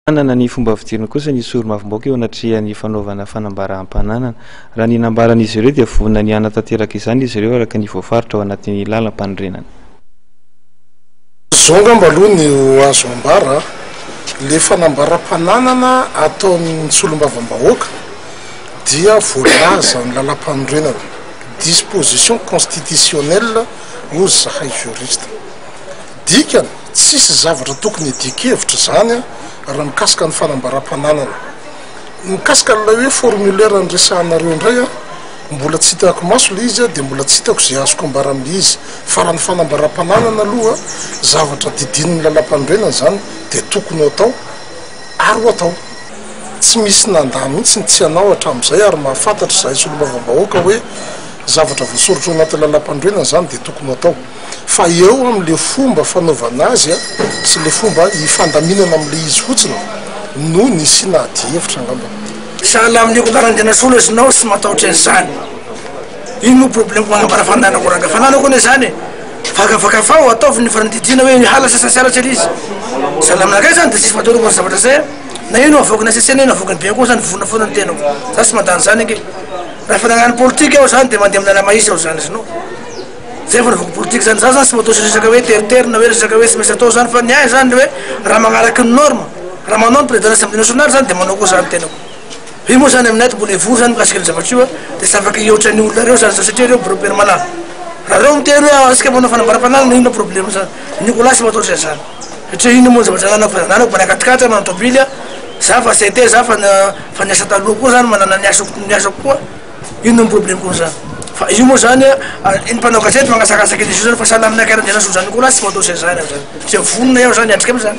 Manana ny fomba fijeriny kosa ny sori-mavombaoka eo anatrehan'ny fanaovana fanambaràm-pananana. Raha ny nambaran'izy ireo dia vonona ny hanatanteraka izany izy ireo araka ny voafaritra ao anatin'ny lalam-panorenana. Izao angamba aloha ny ho azo ambara, ilay fanambaràm-pananana ataon'ny solombavambahoaka dia voalaza amin'ny lalam-panorenana, disposition constitutionnelle hoy zahay juriste. Dikany, Tsisy zavatra tokony hidian-kevitra izany raha mikasika ny fanambaram-pananana. Mikasika an'ilay hoe formulaire niresahanareo indray an, mbola tsy hitako maso ilay izy dia mbola tsy hitako izay azoko ambara amin'ilay izy fa raha ny fanambaram-pananana aloha zavatra didinin'ny lalam-panorenana izany dia tokony ho atao ary ho atao. Tsy misy nandà mihitsy ny tsy hanao hatramin'izay ary mahafantatra izahay solombavam-bahoaka hoe zavatra voasoratra ao anatin'ny lalam-panorenana izany dia tokony ho atao. fa eo amin'ilay fomba fanaovana azy sy ilay fomba ifandaminana amin'ilay izy fotsiny no nisiana adihevitra angamba. Sahala amin'ny akoho anarany tena soa lesy nao tsy matahotra an'izany. Iny moa problème manambara fananako ranga fananako anie zany e. Fakafakafao ataovy ny fanadidiana hoe ny hala sasany tsy halatra ery izy. Zany aminakay zany de tsisy matahotra momba ny zavatra zay an. Na ino avoaky ny HCC na ino avoaky ny be akoho zany vonona foana ny tenako. Za tsy mandany zany ange. Raha fananan'ny politika ao zany de mandeha amin'ala mahitsy ao zany lesy nao. Zay vao resako politika zany, za zany tsy matahotra resaka hoe teritery na hoe resaka hoe tsy maintsy atao zany fa ny ahy zany le hoe raha magnaraka ny norme, raha manao ny président assemblée nationale zany de manao koa za ny tenako. Io moa zany aminay de mbola hivory zany mikasika ny zavatra io a, de tsy afaka hihoatra ny olona reo zany za satria reo biro permanent. Raha reo miteny hoe ah tsika manao fanambarapanagnina inona problème zany, ny ko lahy tsy matahotra izany satria inona moa ny zavatra ananako fa ananako mbola akatikatry manao tobily a, za fa tsy te za fa fa niasa taloha koa zany manana ny asako ny asako koa. Inona no problème ko zany fa io moa zany a iny mpanao gazety mangasakasaka izy io zany fa sahala aminay kara de anaso zany ko lasy tsy manao zay zany aho zany ze vonona eo zany atrika amizany.